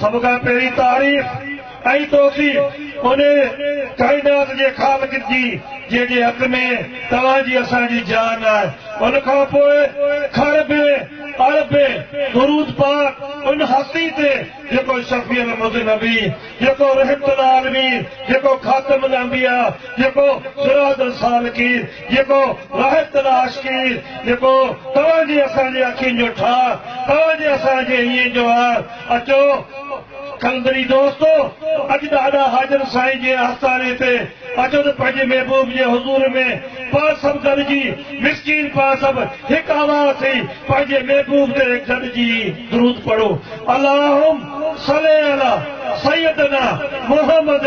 سڀ کان پهرين تعريف ۽ توصيف ان ڪائنات جي خالق جي جنهن جي حق ۾ توهان جي اسان جي جان آهي ان کان پوء کر بي اڙ بي درود پاڪ ان هستي تي جيڪو شفيع المذنبين جيڪو رحمت العالمين جيڪو خاتم الانبياء جيڪو سراج السالڪين جيڪو وحدت ڏا عاشقين جيڪو توهان جي اسان جي اکين جو ٺاهه توهان جي اسان جي هينئين جو آه اچو قلندري دوستو اڄ ڏاڏا حاجن سائين جي آستاني تي اچو ته پنهنجي محبوب جي حضور ۾ پاڻ سڀ گڏجي مسڪين پاڻ سڀ هڪ آواز ٿي پنهنجي محبوب تي گڏجي درود پڙهون اللهم صلي علي سيدنا محمد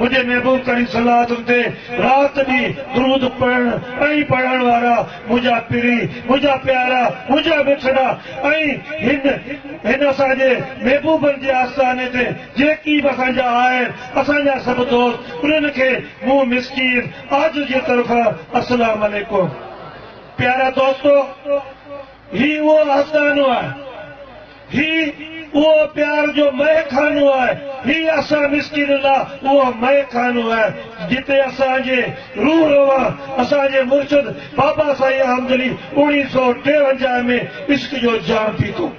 منهنجي محبوب ڪريم صلي الله عليه وسلم تي رات ڏينهن درود پڙهڻ ۽ پڙهائڻ وارا منهنجا پرين، منهنجا پيارا، منهنجا مٺڙا ۽ هن هن اسان جي محبوبن جي آستاني تي جيڪي به اسان جا آهن اسان جا سڀ دوست انهن کي مون مسڪين عاجز جي طرفان السلام عليڪم پيارا دوستو هي اهو آستانو آهي. هي اهو پيار جو مئي خانو آهي، هي اسان مسڪينن لا اهو مئي خانو آهي، جتي اسان جي روح روان اسان جي مرشد بابا سائين آمدلي اوڻيهه سؤ ٽيونجاهه ۾ عشق جو جام پيتو.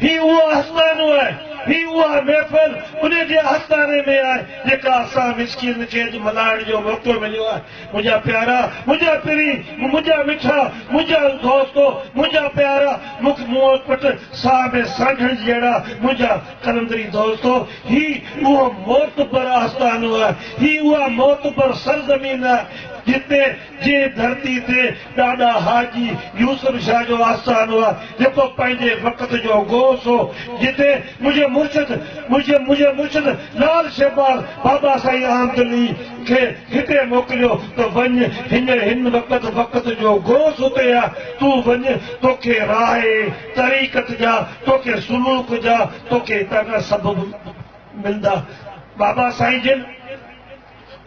هي اهو آستانو آهي، هي اها محفل انهي جي آستاني ۾ آهي، جيڪا اسان مسڪينن کي اڄ ملهائڻ جو موقعو مليو آهي. منهنجا پيارا منهنجا پرين منهنجا مٺا منهنجا دوستو منهنجا پيارا مک منهن پٽ ساهه ۾ سانڍڻ جهڙا منهنجا قلندري دوستو هي اهو معتبر آستانو آهي هي اها معتبر سرزمين آهي جتي جنهن ڌرتي تي ڏاڏا حاجي يوسف شاهه جو آستانو آهي، جيڪو پنهنجي وقت جو غوث هو، جتي منهنجي مرشد منهنجي منهنجي مرشد لعل شهباز بابا سائين عامدلي کي هتي موڪليو ته وڃ هن هن وقت وقت جو غوث هتي آهي، تون وڃ توکي راهه طريقت جا، توکي سلوڪ جا، توکي هتان جا سبب ملندا. بابا سائين جن.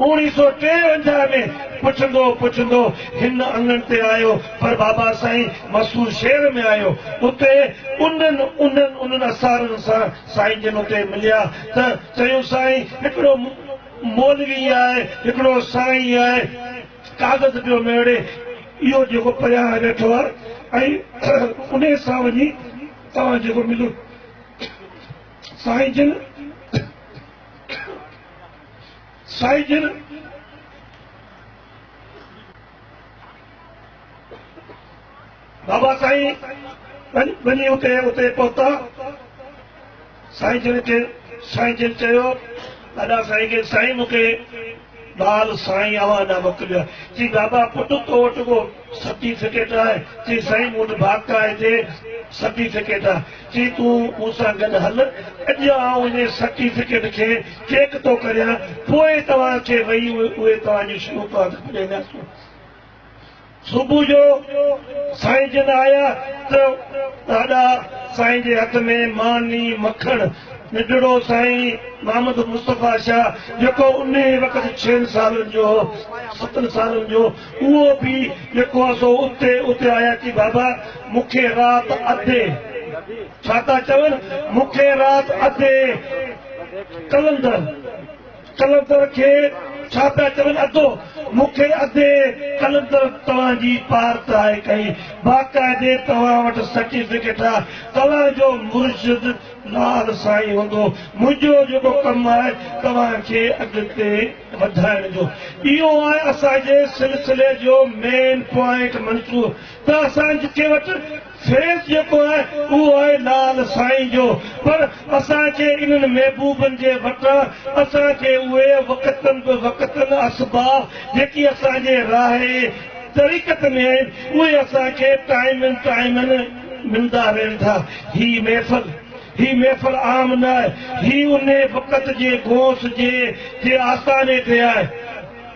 اوڻي سو ٽيونجاهه ۾ پڇندو پڇندو هن اڱڻ تي آيو پر بابا سائين مسور شهر ۾ آيو اتي انهن انهن انهن اسارن سان سائين جن اتي مليا ته چيون سائين هڪڙو مولوي آهي هڪڙو سائين آهي ڪاغذ پيو ميڙي اهو جيڪو پريان ويٺو آهي ۽ انهي سان وڃي توهان جيڪو مليو سائين جن سائين جن بابا سائين وڃي اتي اتي پهتا سائين جن کي سائين جن چيو ادا سائين کي سائين مون کي ٻال سائين اوهان ڏانهن موڪليو آهي چي بابا پٽ تو وٽ ڪو سرٽيفڪيٽ؟ چيس سائين مون وٽ باقائي دي سرٽيفڪيٽ آ. چيس تون مون سان گڏ هل اڄ آئون انهي سرٽيفڪيٽ کي چيڪ ٿو ڪريان پوء توهان کي وهي اهي توهان جون شروقات ٻڌائينداسون. صبح جو سائين جن آيا ته ڏاڏا سائين جي هٿ ۾ ماني مکڻ ننڍڙو سائين محمد مصطفيٰ شاهه جيڪو انهي وقت ڇهن سالن جو هو ستن سالن جو اهو به جيڪو هو سو اتي اتي آيا چي بابا مون کي رات اڌي ڇا ٿا چون مون کي رات اڌي قلندر قلندر کي ڇا پيا چون ادو مون کي اڌي قلندر توهان جي پار ترائي ڪئي باقاعدي توهان وٽ سرٽيفڪيٽ آ توهان جو مرشد لال سائين هوندو منهنجو جيڪو ڪم آهي توهان کي اڳتي وڌائڻ جو اهو آهي اسان جي سلسلي جو مين پوائنٽ منصوبو ته اسان کي وٽ فيس جيڪو آهي اهو آهي لال سائين جو پر اسان کي انهن محبوبن جي وٽان اسان کي اهي وقتن به وقتن اسباب جيڪي اسان جي راهي طريقت ۾ آهن اهي اسان کي ٽائيمن ٽائيمن ملندا رهن ٿا هي محفل هي محفل عام نه آهي، هي انهي وقت جي غوث جي جي آستاني تي آهي.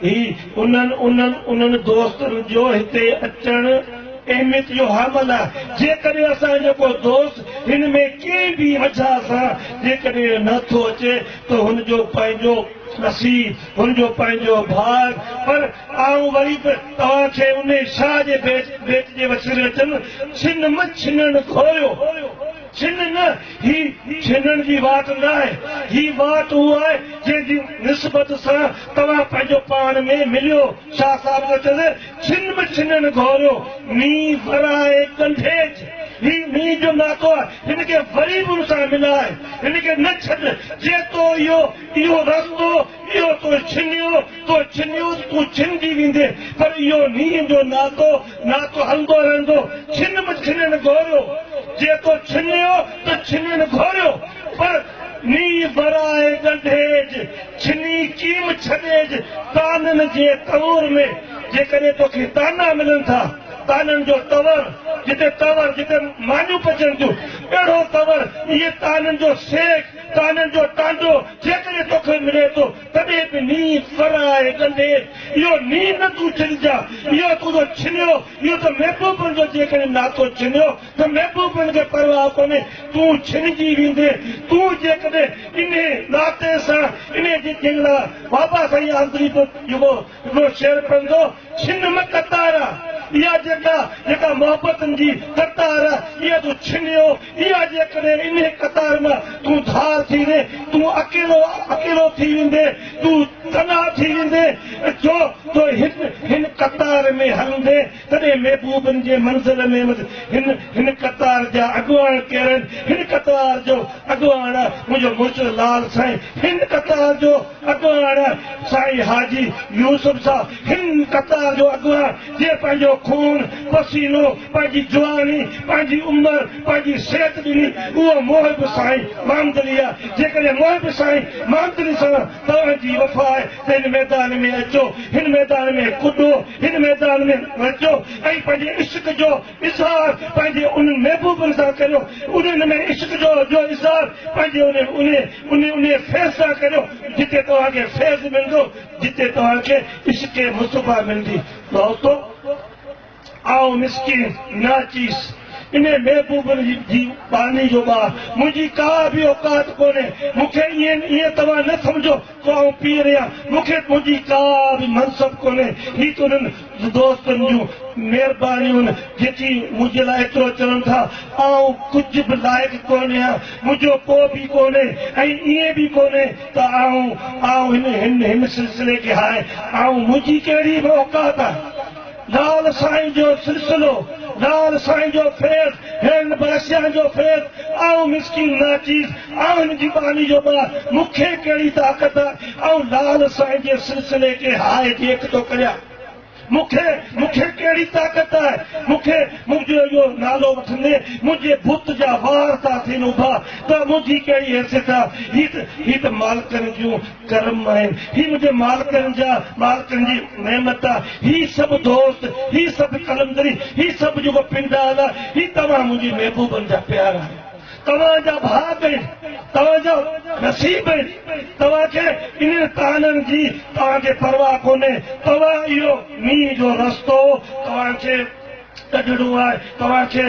هي انهن انهن انهن دوستن جو هتي اچڻ اهميت جو حامل آهي. جيڪڏهن اسان جو ڪو دوست هن ۾ ڪنهن به وجهه سان جيڪڏهن نه ٿو اچي ته هن جو پنهنجو نصيب، هن جو پنهنجو ڀاڳ. پر آئون وري به توهان کي انهي شاهه جي بيت بيت جي وسيلي چن، ڇن م ڇنڻ گهويو. ڇن نه، هي ڇنڻ جي وات ناهي، هي وات اها آهي جنهن جي نسبت سان توهان پنهنجو پاڻ ۾ مليو، شاهه صاحب جو چوڻ هو، ڇن به ڇنڻ گهوريو، مين ورائي ڪنڊيج، هي مين جو ناتو آهي، هن کي وري به ان سان ملائي، هن کي نه ڇڏ، جيتو اهو، اهو رستو، اهو تو ڇنيو، تو ڇنيو ته تون ڇنجي ويندين، پر اهو نينهن جو ناتو، ناتو هلندو رهندو. ڇن به ڇنين گهوريو، جي تو ڇنيو ته ڇنين گهوريو، پر نينهن ورائي ڳنڍيج، ڇني ڪيم ڇڏيج، طعنن جي تئور ۾، جيڪڏهن توکي طعنا ملن ٿا، طعنن جو تئور، جتي تئور، جتي مانيون پچن ٿيون، اهڙو تئور، اهي طعنن جو سيخ، طعنن جو ٽانڊو، جيڪڏهن توکي ملي ٿو تڏهن به نينهن سر آهي ڪندي اهو نينهن نه تون ڇڏجان اهو تنهنجو ڇنيو اهو ته محبوبن جو جيڪڏهن ناتو ڇنيو ته محبوبن کي پرواهه ڪونهي تون ڇنجي ويندين تون جيڪڏهن انهي ناتي سان انهي جي جنگلا بابا سائين آمريت جيڪو اهو شعر پڙهندو ڇن م قطار آ، اها جيڪا، جيڪا محبتن جي قطار آ، اها تون ڇنيو، اها جيڪڏهن انهيء قطار م تون ڌار ٿي وئين، تون اڪيلو، اڪيلو ٿي ويندين، تون تنها ٿي ويندين، جو تو هن، هن قطار ۾ هلندين. تڏهن محبوبن جي منزل ۾ وڌ. هن هن قطار جا اڳواڻ ڪير آهن؟ هن قطار جو اڳواڻ آهي منهنجو مرشد لال سائين. هن قطار جو اڳواڻ آهي سائين حاجي يوسف صاحب. هن قطار جو اڳواڻ جنهن پنهنجو خون، پسينو، پنهنجي جواني، پنهنجي عمر، پنهنجي صحت ڏني اهو محب سائين محمد علي آهي. جيڪڏهن محب سائين محمد علي سان توهان جي وفا آهي هن ميدان ۾ اچو، هن ميدان ۾ ڪڏو، هن ميدان ۾ نچو ۽ پنهنجي عشق جو اظهار پنهنجي انهن محبوبن سان ڪريو، انهن ۾ عشق جو جو اظهار پنهنجي انهي انهي انهي فيض سان ڪريو، جتي توهان کي فيض ملندو، جتي توهان کي عشق مصطفيٰ ملندي. دوستو! آء مسڪين ناچيز انهي محبوبن جي ٻانهي جو ٻار، منهنجي ڪا به اوقات ڪونهي، مون کي ائين ائين توهان نه سمجهو جو آء پير هيان، مون کي تنهنجي ڪا به منصب ڪونهي، هي ته انهن دوستن جون مهربانيون آهن جيڪي منهنجي لاء ايترو چون ٿا، آء ڪجهه به لائق ڪونهي هيان، منهنجو ڪو به ڪونهي ۽ ائين به ڪونهي ته آء آء هن هن سلسلي کي هاء آء منهنجي ڪهڙي به اوقات آهي. لال سائين جو سلسلو لال سائين جو فيض هينن باسيان جو فيض آئون مسڪين ناچيز آهن جي ٻانهي جو ٻار مون کي ڪهڙي طاقت آ آئون لال سائين جي سلسلي کي هاء جيڪ ٿو ڪريان مون کي مون کي ڪهڙي طاقت آ مون کي منهنجو اهو نالو وٺندي منهنجي بت جا وار ٿا ٿين اڀا ته منهنجي ڪهڙي حيثيت آ هي ته هي ته مالڪن جون ڪرم آهن، هي منهنجي مالڪن جا مالڪن جي نعمت آ، هي سڀ دوست، هي سڀ قلندري، هي سڀ جيڪو پنڊال آ، هي توهان منهنجي محبوبن جا پيار آهيو. توهان جا ڀاڳ آهن، توهان جا نصيب آهن، توهان کي انهن طعنن جي توهان کي پرواهه ڪونهي، توهان اهو مينهن جو رستو توهان کي ڪڍڻو آهي، توهان کي.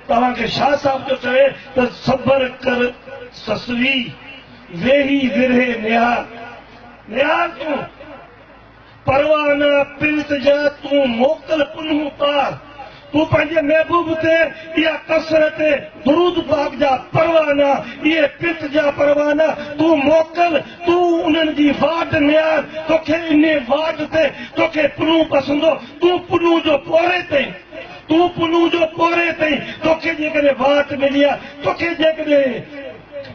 توهان کي شاهه صاحب ٿو چوي ته صبر ڪر سسوي، ويهي ورهيه نهار، نهار تون پروانا پرت جا، تون موڪل پنهون پار، تون پنهنجي محبوب تي اها ڪثرت درود پاڪ جا پروانا، اهي پرت جا پروانا تون موڪل، تون انهن جي واٽ نهار، توکي انهي واٽ تي توکي پنهون پسندو، تون پنهون جو پورهيت ٿئين. تون پنهون جو پوري تائين توکي جيڪڏهن وات ملي آ توکي جيڪڏهن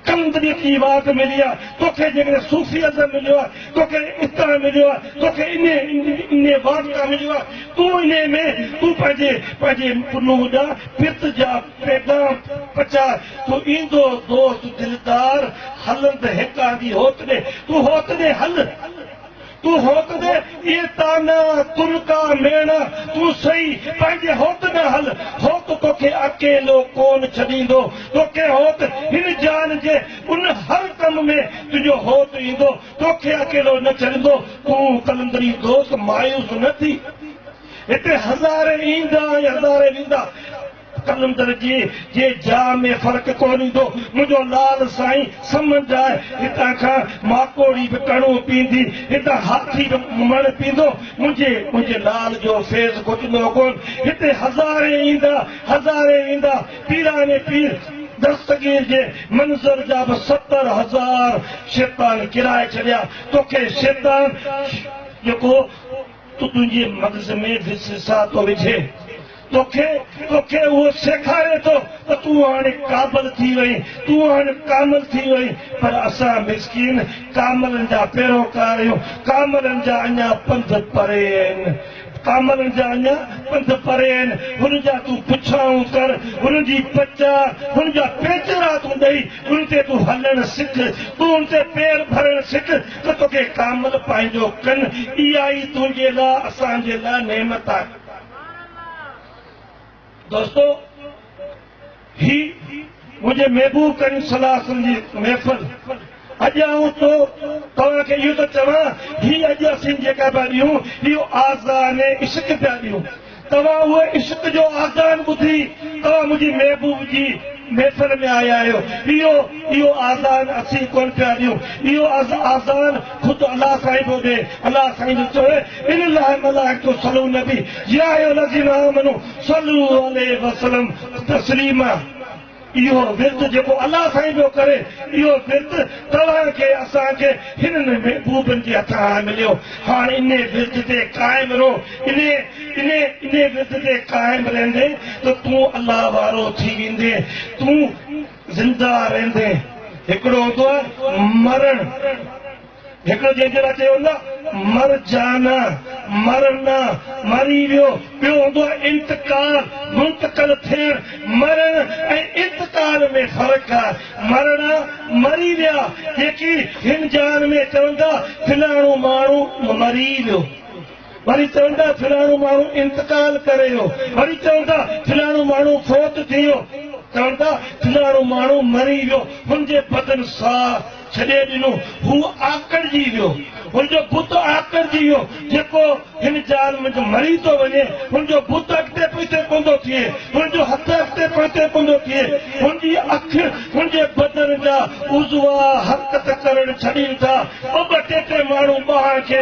قلندريت جي وات ملي آ توکي جيڪڏهن صوفي ازم مليو آ توکي اتاء مليو آ توکي انهي وات تان مليو آ تون انهي ۾ تون پنهنجي پنهنجي پنهون جا پرت جا پيغام پچاء تو ايندو دوست دلدار هلند هيڪاندي هوتڏهن تون هوتڏهن هل. تون هوت ڏي اهي طعنا، تنڪا، ميڻا، تون سهي پنهنجي هوت ڏانهن هل، هوت توکي اڪيلو ڪونه ڇڏيندو، توکي هوت هن جان جي ان هر ڪم ۾ تنهنجو هوت ايندو، توکي اڪيلو نه ڇڏيندو، تون قلندري دوست مايوس نه ٿي، هتي هزارين ايندا ۽ هزارين ويندا. قلندر جي جي جا ۾ فرق ڪو نيندو منهنجو لال سائين سمنڊ آهي هتان کان ماڪوڙي به ڪڻو پيندي هتان هاٿي به مڻ پيندو منهنجي منهنجي لال جو فيض گهٽندو ڪون هتي هزارين ايندا هزارين ويندا پيران پير دستگير جي منظر جا به ستر هزار شيطان ڪرائي ڇڏيا توکي شيطان جيڪو تو تنهنجي مغز ۾ به سسا ٿو وجهي. توکي توکي اهو سيکاري ٿو ته تون هاڻي قابل ٿي وئين، تون هاڻي ڪامل ٿي وئين. پر اسان مسڪين ڪاملن جا پيروڪار آهيون. ڪاملن جا اڃا پنڌ پري آهن. ڪاملن جا اڃا پنڌ پري آهن. هن جا تون پڇائون ڪر، هن جي پچاء، هن جا پيچرا تون ڏئي، ان تي تون هلڻ سک، تون ان تي پير ڀرڻ سک. ته توکي ڪامل پنهنجو ڪن، اها ئي تنهنجي لاء اسان جي لاء نعمت آهي. دوستو! هي منهنجي محبوب ڪريم صلي الله عليه وسلم جي محفل. اڄ آئون تو توهان کي اهو ٿو چوان، هي اڄ اسين جيڪا پيا ڏيون، اهو آذان عشق پيا ڏيون. توهان اهو عشق جو آذان ٻڌي توهان منهنجي محبوب جي محفل ۾ آيا آهيو. اهو اهو آذان اسين ڪونه پيا ڏيون. اهو آذان خود الله سائين پيو ڏي. الله سائين جو چوڻ ان الله ملائڪته صلو النبي يا ايها الذين آمنو صلو عليه وسلم تسليما. اهو ورت جيڪو الله سائين پيو ڪري، اهو ورت توهان کي، اسان کي، هنن محبوبن جي هٿان آهي مليو. هاڻ انهي ورت تي قائم رهو. انهي، انهي، انهي ورت تي قائم رهندين ته تون الله وارو ٿي ويندين. تون زنده رهندين. هڪڙو هوندو آهي مرڻ. هڪڙو جنهن جي لاء چيو هوندو آهي مر جانا، مرنا، مري ويو، ٻيو هوندو آهي انتقال، منتقل ٿيڻ، مرڻ ۽ انتقال ۾ فرق آهي، مرڻا، مري ويا، جيڪي هن جهان ۾ چوندا فلاڻو ماڻهو مري ويو. وري چوندا فلاڻو ماڻهو انتقال ڪري ويو، وري چوندا فلاڻو ماڻهو فوت ٿي ويو، چوندا فلاڻو ماڻهو مري ويو، هن جي بدن ساهه ڇڏي ڏنو، هو آڪڙجي ويو، هن جو بت آڪڙجي ويو، جيڪو هن جال منجهه مري ٿو وڃي، هن جو بت اڳتي پوئتي ڪوندو ٿئي، هن جو هٿ اڳتي پوئتي ڪوندو ٿئي، هن جي اک، هن جي بدن جا عضوا حرڪت ڪرڻ ڇڏين ٿا، ٻه ٻه ٽي ٽي ماڻهو ٻانهن کي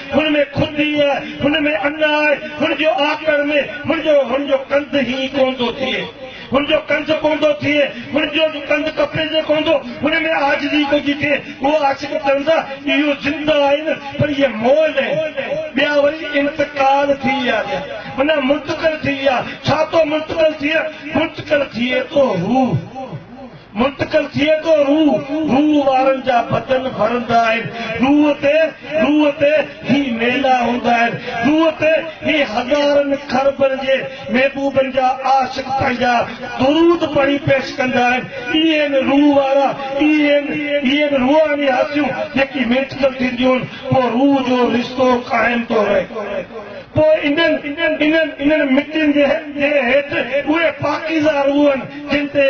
هن ۾ خود ئي آهي، هن ۾ ان آهي، هن جو آڪر ۾ هن جو هن جو ڪنڌ هي ڪونه ٿو ٿئي، هن جو ڪنڌ ڪونه ٿو ٿئي، هن جو ڪنڌ ڪپي تي ڪونه ٿو، هن ۾ عاجزي ڪونه ٿي ٿئي، هو عاشق ترندا اهو زنده آهن پر اهي مئل آهن، ٻيا وري انتقال ٿي ويا ٿيا، معنيٰ منتقل ٿي ويا، ڇا ٿو منتقل ٿئي؟ منتقل ٿئي ٿو هو. منتقل ٿئي ٿو روح، روح وارن جا بدن ڀرندا آهن روح تي، روح تي هي ميلا هوندا آهن روح تي هي هزارن کربن جي محبوبن جا عاشق پنهنجا درود پڙهي پيش ڪندا آهن اهي آهن روح وارا اهي آهن اهي آهن روحاني هستيون جيڪي منتقل ٿينديون آهن پوء روح جو رشتو قائم ٿو رهي پوء انهن انهن انهن مٽين جي هيٺ اهي پاڪيزه روح آهن جن تي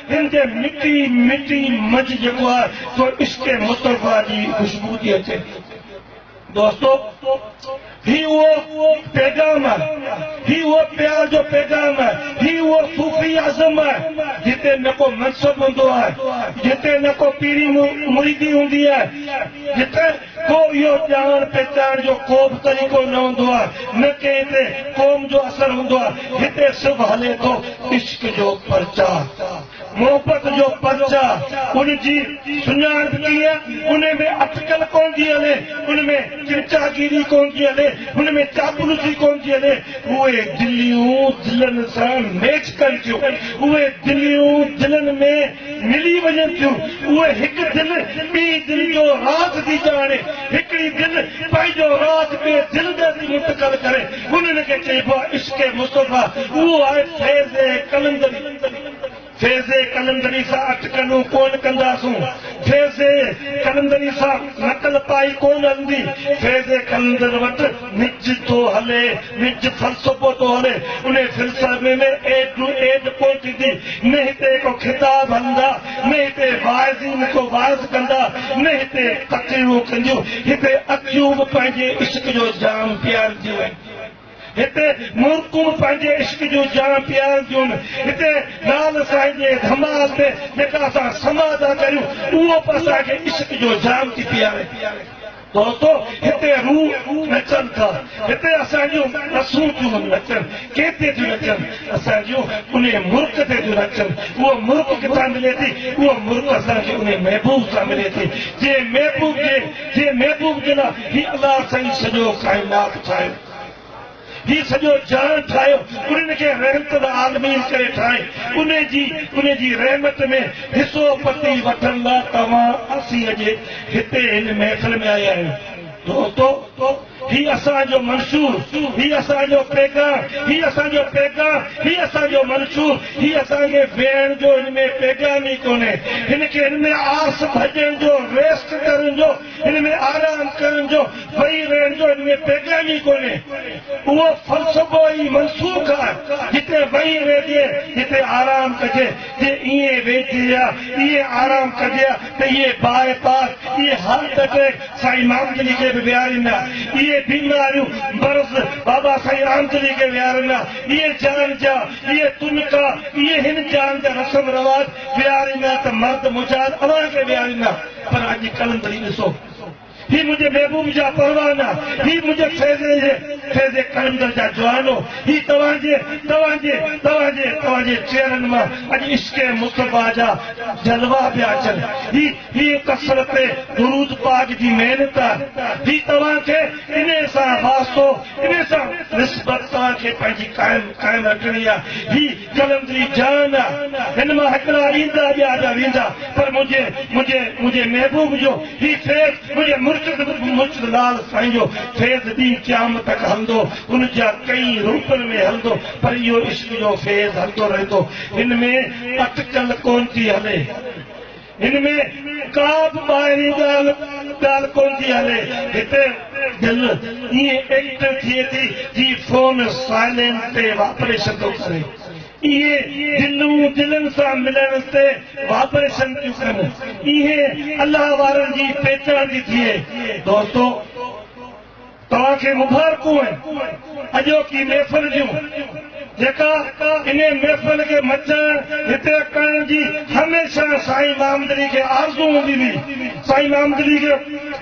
دل تي مٽي مٽي مچ جيڪو آ سو عشق مصطفيٰ جي خوشبو ٿي اچي دوستو هي اهو پيغام آ هي اهو پيار جو پيغام آ هي اهو صوفي عزم آ جتي نه ڪو منصب هوندو آ جتي نه ڪو پيري مريدي هوندي آ جتي ڪو اهو ڄاڻڻ پهچائڻ جو ڪوبه طريقو نه هوندو آهي، نه ڪنهن تي قوم جو اثر هوندو آهي، هتي صرف هلي ٿو عشق جو پرچاء، محبت جو پرچاء، ان جي سڃاڻپ ڪيئن، ان ۾ اٽڪل ڪونه ٿي هلي، ان ۾ چمچاگيري ڪونه ٿي هلي، ان ۾ چاپلوسي ڪونه ٿي هلي، اهي دليون دلن سان ميچ ڪن ٿيون، اهي دليون دلن ۾ ملي وڃن ٿيون، اهي هڪ دل ٻي دل جو راز ٿي ڄاڻي، هڪڙي دل پنهنجو راز ٻي دل ڏي ٿي منتقل ڪري، انهن کي چئبو آهي عشق مصطفيٰ، اهو آهي فيض قلندري. فيض قلندري سان اٽڪلون ڪونه ڪنداسون، فيض قلندري سان نقل پائي ڪونه هلندي، فيض قلندر وٽ. نج ٿو هلي، نج فلسفو ٿو هلي، انهي فلسفي ۾ ايڊ ٽو ايڊ ڪونه ٿيندي، نه هتي ڪو خطاب هلندا، نه هتي واعظين ڪو وعظ ڪندا، نه هتي تقريرون ڪنديون، هتي اکيون به پنهنجي عشق جو جام پيارنديون، هتي مورڪون پنهنجي عشق جو جام پيارنديون، هتي لعل سائين جي ڌمال تي جيڪا اسان سماع ٿا ڪريون، اهو به اسان کي عشق جو جام ٿي پياري. دوستو هتي روح نچن ٿا هتي اسان جون نسون ٿيون نچن ڪيتي ٿيون نچن اسان جون انهي مرڪ تي ٿيون نچن اهو مرڪ ڪٿان ملي ٿي اهو مرڪ اسان کي انهي محبوب سان ملي ٿي جنهن محبوب جي جنهن محبوب جي لاء هي الله سائين سڄو ڪائنات ٺاهيو هي سڄو جهان ٺاهيو، انهن کي رحمت العالمين ڪري ٺاهي، انهي جي انهي جي رحمت ۾ حصو پتي وٺڻ لاء توهان اسين اڄ هتي هن محفل ۾ آيا آهيون. دوستو! هي اسان جو منشور، هي اسان جو پيغام، هي اسان جو پيغام، هي اسان جو منشور، هي اسان کي ويهڻ جو هن ۾ پيغام ئي ڪونهي، هن کي هن ۾ آس ڀڄڻ جو، ريسٽ ڪرڻ جو، هن ۾ آرام ڪرڻ جو، ويهي رهڻ جو هن ۾ پيغام ئي ڪونهي. اهو فلسفو ئي منسوخ آهي. جتي ويهي رهجي، جتي آرام ڪجي، جي ائين ويهجي ها، ائين آرام ڪجي ها ته اهي باء پاس، اهي هارٽ اٽيڪ سائين مامدلي کي به ويهارين ها، اهي بيماريون، مرض بابا سائين رامدلي کي ويهارن ها، اهي جان جا، اهي تنڪا، اهي هن جان جا رسم رواج ويهارين ها ته مرد مجاهد اوهان کي ويهارين ها. پر اڄ قلندري ڏسو، هي منهنجي محبوب جا پروانا، هي منهنجي فيضي جي فيضي قلندر جا جوانو، هي توهان جي، توهان جي، توهان جي، توهان جي چهرن مان اڄ عشق مصطفيٰ جا جلوا پيا اچن، هي، هي ڪثرت درود پاڪ جي محنت آ، هي توهان کي انهي سان واسطو، انهي سان نسبت توهان کي پنهنجي قائم، قائم رکڻي آ، هي. قلندري جان نه هن مان هڪڙا ايندا ٻيا ٻيا ويندا پر منهنجي منهنجي منهنجي محبوب جو هي فيض منهنجي مرشد مرشد لال سائين جو فيض ڏينهن قيامت تڪ هلندو ان جا ڪئي روپن ۾ هلندو پر اهو عشق جو فيض هلندو رهندو هن ۾ اٽڪل ڪونه ٿي هلي. هن ۾ ڪا به ٻاهرين ڳالهه ڪونه ٿي هلي. هتي ڄڻ ائين ايڪٽ ٿئي ٿي جي فون سائلينٽ تي وائبريشن ٿو ڪري. اهي جنون دلن سان ملڻ تي وائبريشن ٿيون ڪن. اهي الله وارن جي پيچاڻ ٿي ٿئي. دوستو! توهان کي مبارڪون آهن اڄوڪي محفل جون جيڪا انهي محفل کي مچائڻ هتي ڪرڻ جي هميشه سائين محمدعلي کي آرزو هوندي هئي سائين محمدعلي کي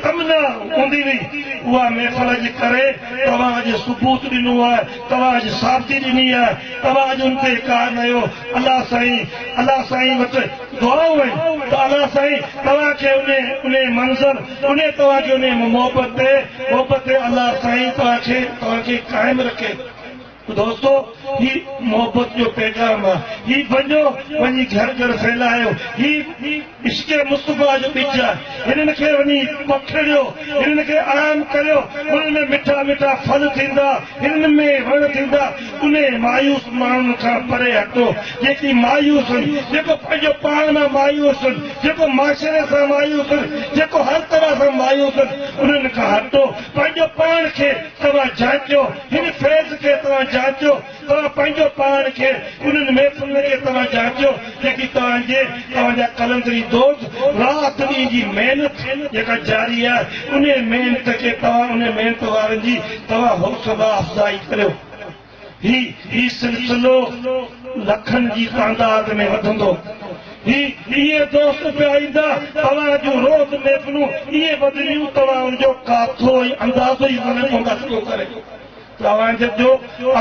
تمنا هوندي هئي اها محفل جي ڪري توهان اڄ ثبوت ڏنو آهي توهان اڄ ثابتي ڏني آهي توهان اڄ ان تي اقرار ڪيو الله سائين الله سائين وٽ دعائون آهن ته الله سائين توهان کي انهي انهي منزل انھي توھانجي انھي محبت تي محبت تي الله سائين توھانکي توھانکي قائم رکي تو دوستو ھي محبت جو پيغام آ ھي وڃو وڃي گھر گھر ڦھلايو ھي عشق مصطفيٰ جو ٻج آ ھنن کي وڃي پکڙيو ھنن کي عام ڪريو انھن ۾ مٺا مٺا ڦل ٿيندا هن ۾ وڻ ٿيندا انهي مايوس ماڻهن کان پري هٽو جيڪي مايوس هن جيڪو پنهنجو پاڻ مان مايوس هن جيڪو معاشري سان مايوس هن جيڪو هر طرح سان مايوس هن انهن کان هٽو پنهنجو پاڻ کي توهان جانچيو هن فيض کي توهان جانچيو توهان پنهنجو پاڻ کي انهن محفلن کي توهان جانچيو جيڪي توهان جي توهان جا قلندري دوست رات ڏينهن جي محنت جيڪا جاري آهي انهي محنت کي توهان انهي محنت وارن جي توهان حوصلا افزائي ڪريو هي هي سلسلو لکن جي تعداد ۾ وڌندو هي اهي دوست پيا ايندا توهان جون روز محفلون ايئن وڌنديون توهان ان جو ڪاٿو ۽ اندازو ئي ڪونه پوندا شروع ڪري ڳالهائڻ تي ڏيو،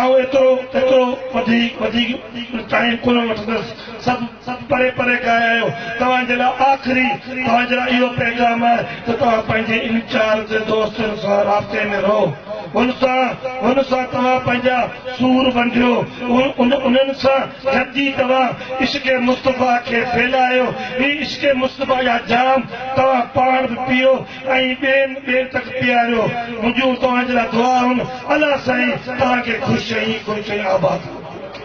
آئون ايترو ايترو وڌيڪ وڌيڪ ٽائيم ڪونه وٺندس، سڀ پري پري کان آيا آهيو، توهان جي لاء آخري توهان جي لاء اهو پيغام آهي ته توهان پنهنجي ان چار تي دوستن سان رابطي ۾ رهو، هن سان هن سان توهان پنهنجا سور ونڊيو، ان انهن سان گڏجي توهان عشق مصطفيٰ کي ڦهلايو، هي عشق مصطفيٰ جا جام توهان پاڻ به پيئو، ۽ ٻين ٻين تڪ پياريو منهنجون توهان جي لاء دعائون الله سائين توهان کي خوش ۽ خرچ ۽ آباد رکي.